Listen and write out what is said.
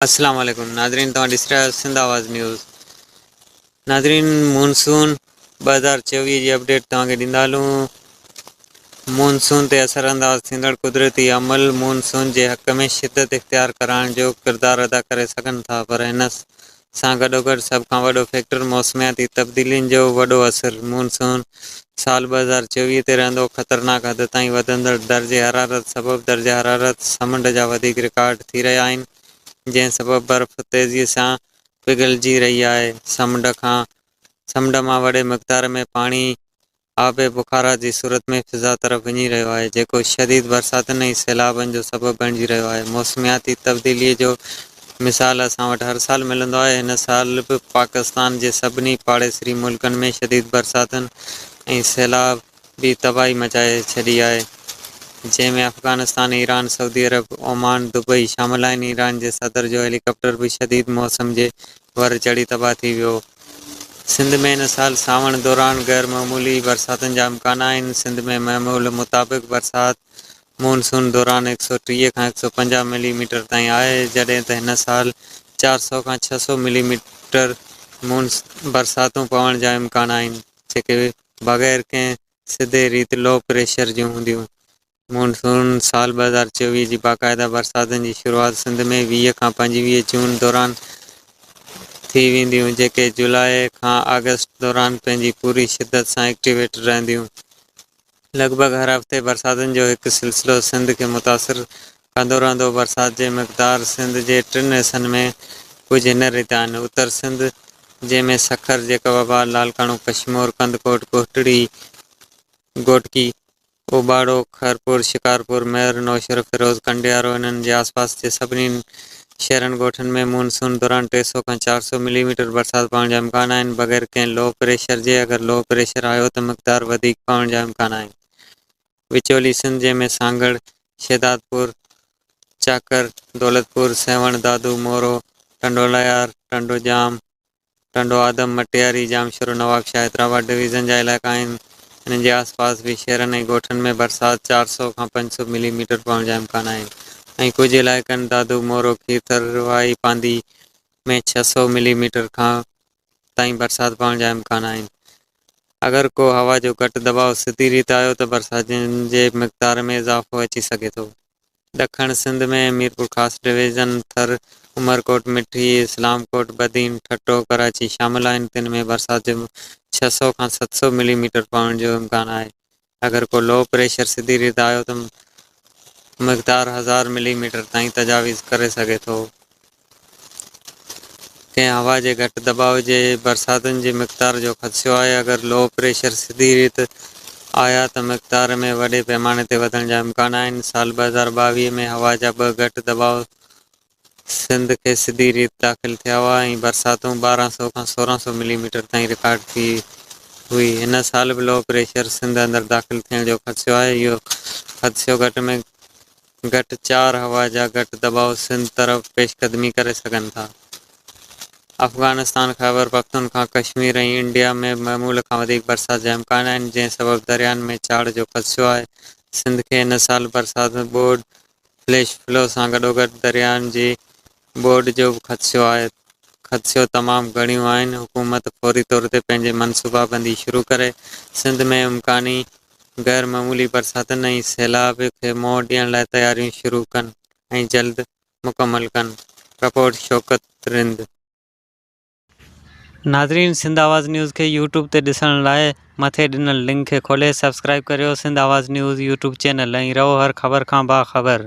السلام عليڪم ناظرين توهان ڏسي رهيا آهيو سنڌ آواز نيوز ناظرين مونسون ٻه هزار چويهه جي اپڊيٽ توهان کي ڏيندا هلون مونسون تي اثر انداز ٿيندڙ قدرتي عمل مونسون جي حق ۾ شدت اختيار ڪرائڻ جو ڪردار ادا ڪري سگهن ٿا پر هن سان گڏوگڏ سڀ کان وڏو فيڪٽر موسمياتي تبديلين جو وڏو اثر مونسون سال ٻه هزار چويهه تي رهندو خطرناڪ حد تائين وڌندڙ درجه حرارت سبب درجه حرارت سمنڊ جا وڌيڪ رڪارڊ ٿي رهيا آهن جنهن سبب برف تيزي سان پگهلجي رهي آهي سمنڊ کان سمنڊ مان وڏي مقدار ۾ پاڻي آب بخارا جي صورت ۾ فضا طرف وڃي رهيو آهي جيڪو شديد برساتن ۽ سيلابن جو سبب بڻجي رهيو آهي موسمياتي تبديلي جو مثال اسان وٽ هر سال ملندو آهي، هن سال به پاڪستان جي سڀني پاڙيسري ملڪن ۾ شديد برساتن ۽ سيلاب بي تباهي مچائي ڇڏي آهي، جنهن ۾ Afghanistan, Iran, Saudi Arabia, Oman, Dubai شامل آهن، ايران جي صدر جو هيلي ڪاپٽر به شديد موسم جي ور چڙهي تباهه ٿي ويو. سنڌ ۾ هن سال سانوڻ دوران غيرمعمولي برساتن جا امڪان آهن، سنڌ ۾ معمول مطابق برسات مون سون دوران هڪ سؤ ٽيهه کان هڪ سؤ پنجاهه ملي ميٽر تائين آهي، جڏهن ته هن سال چار سؤ کان ڇهه سؤ ملي ميٽر مون برساتون پوڻ جا امڪان آهن، جيڪي بغير ڪنهن سڌي ريت لو پريشر جون هونديون. مون سون سال ٻه هزار چوويهه جي باقاعده برساتن جي شروعات سنڌ ۾ ويهه کان پنجويهه جون دوران ٿي وينديون، جيڪي جولاء کان آگسٽ دوران پنهنجي پوري شدت سان ايڪٽيويٽ رهنديون. لڳ ڀڳ هر هفتي برساتن جو هڪ سلسلو سنڌ کي متاثر ڪندو رهندو. برسات جي مقدار سنڌ جي ٽن حصن ۾ ڪجهه هن ريت آهن، اتر سنڌ، جنهن ۾ سکر، جيڪب آباد، لاڙڪاڻو، ڪشمور، ڪنڌڪوٽ، ڪوٽڙي، گهوٽڪي، اوٻاڙو، خيرپور، شڪارپور، مير، نوشهرو، فيروز، ڪنڊيارو، انهن جي آسپاس جي سڀني شهرن ڳوٺن ۾ مون سون دوران ٽي سؤ کان چار سؤ ملي ميٽر برسات پوڻ جا امڪان آهن بغير ڪنهن لو پريشر جي اگر لو پريشر آيو ته مقدار وڌيڪ پوڻ جا امڪان آهن وچولي سنڌ جنهن ۾ سانگهڙ، شهدادپور، چاڪر، دولتپور، سيوهڻ، دادو، مورو، ٽنڊولايار، ٽنڊوڄام، ٽنڊو آدم، مٽياري، ڄامشورو، نوابشاهه، حيدرآباد ڊويزن جا علائقا آهن، انهن جي آس پاس به شهرن ۽ ڳوٺن ۾ برسات چار سؤ کان پنج سؤ ملي ميٽر پوڻ جا امڪان آهن ۽ ڪجهه علائقن دادو، مورو، کيرٿر، واهي پانڌي ۾ ڇهه سؤ ملي ميٽر کان تائين برسات پوڻ جا امڪان آهن. اگر ڪو هوا جو گهٽ دٻاء سڌي ريت آيو ته برساتن جي مقدار ۾ اضافو اچي سگهي ٿو. ڏکڻ سنڌ ۾ ميرپورخاص ڊويزن، ٿر، عمرڪوٽ، مٺي، اسلام ڪوٽ، بدين، ٺٽو، ڪراچي شامل آهن، تن ۾ برسات جو ڇهه سؤ کان ست سؤ ملي ميٽر پوڻ جو امڪان آهي، اگر ڪو لو پريشر سڌي ريت آيو ته مقدار هزار ملي ميٽر تائين تجاويز ڪري سگهي ٿو. ڪنهن هوا جي گهٽ دٻاء جي برساتن جي مقدار جو خدشو آهي، اگر لو پريشر سڌي ريت آيا ته مقدار ۾ وڏي پيماني تي وڌڻ جا امڪان آهن، سال ٻه هزار ٻاويهه ۾ هوا جا ٻه گهٽ دٻاء سنڌ کي سڌي ريت داخل ٿيا هئا ۽ برساتون ٻارهن سؤ کان سورهن سؤ ملي ميٽر تائين رڪارڊ ٿي هئي، هن سال به لو پريشر سنڌ اندر داخل ٿيڻ جو خدشو آهي، اهو خدشو گهٽ ۾ گهٽ چار هوا جا گهٽ دٻاء سنڌ طرف پيشقدمي ڪري سگهن ٿا. افغانستان، خيبرپختونخوا، ڪشمير ۽ انڊيا ۾ به معمول کان وڌيڪ برسات جا امڪان آهن، جنهن سبب دريائن ۾ چاڙهه جو خدشو آهي. سنڌ کي هن سال برسات ۾ ٻوڏ، فليش فلو سان گڏوگڏ دريائن جي بورڊ جو به خدشو آهي، خدشو تمام گهڻيون آهن، حڪومت فوري طور تي پنهنجي منصوبابندي شروع ڪري سنڌ ۾ امڪاني غير معمولي برساتن ۽ سيلاب کي منهن ڏيڻ لاء تياريون شروع ڪن ۽ جلد مڪمل ڪن، رپورٽ شوڪت رند. ناظرين سنڌ آواز نيوز کي يوٽيوب تي ڏسڻ لاء مٿي ڏنل لنڪ کي کولي سبسڪرائيب ڪريو Sindh Awaz news YouTube channel ۽ رهو هر خبر کان باخبر.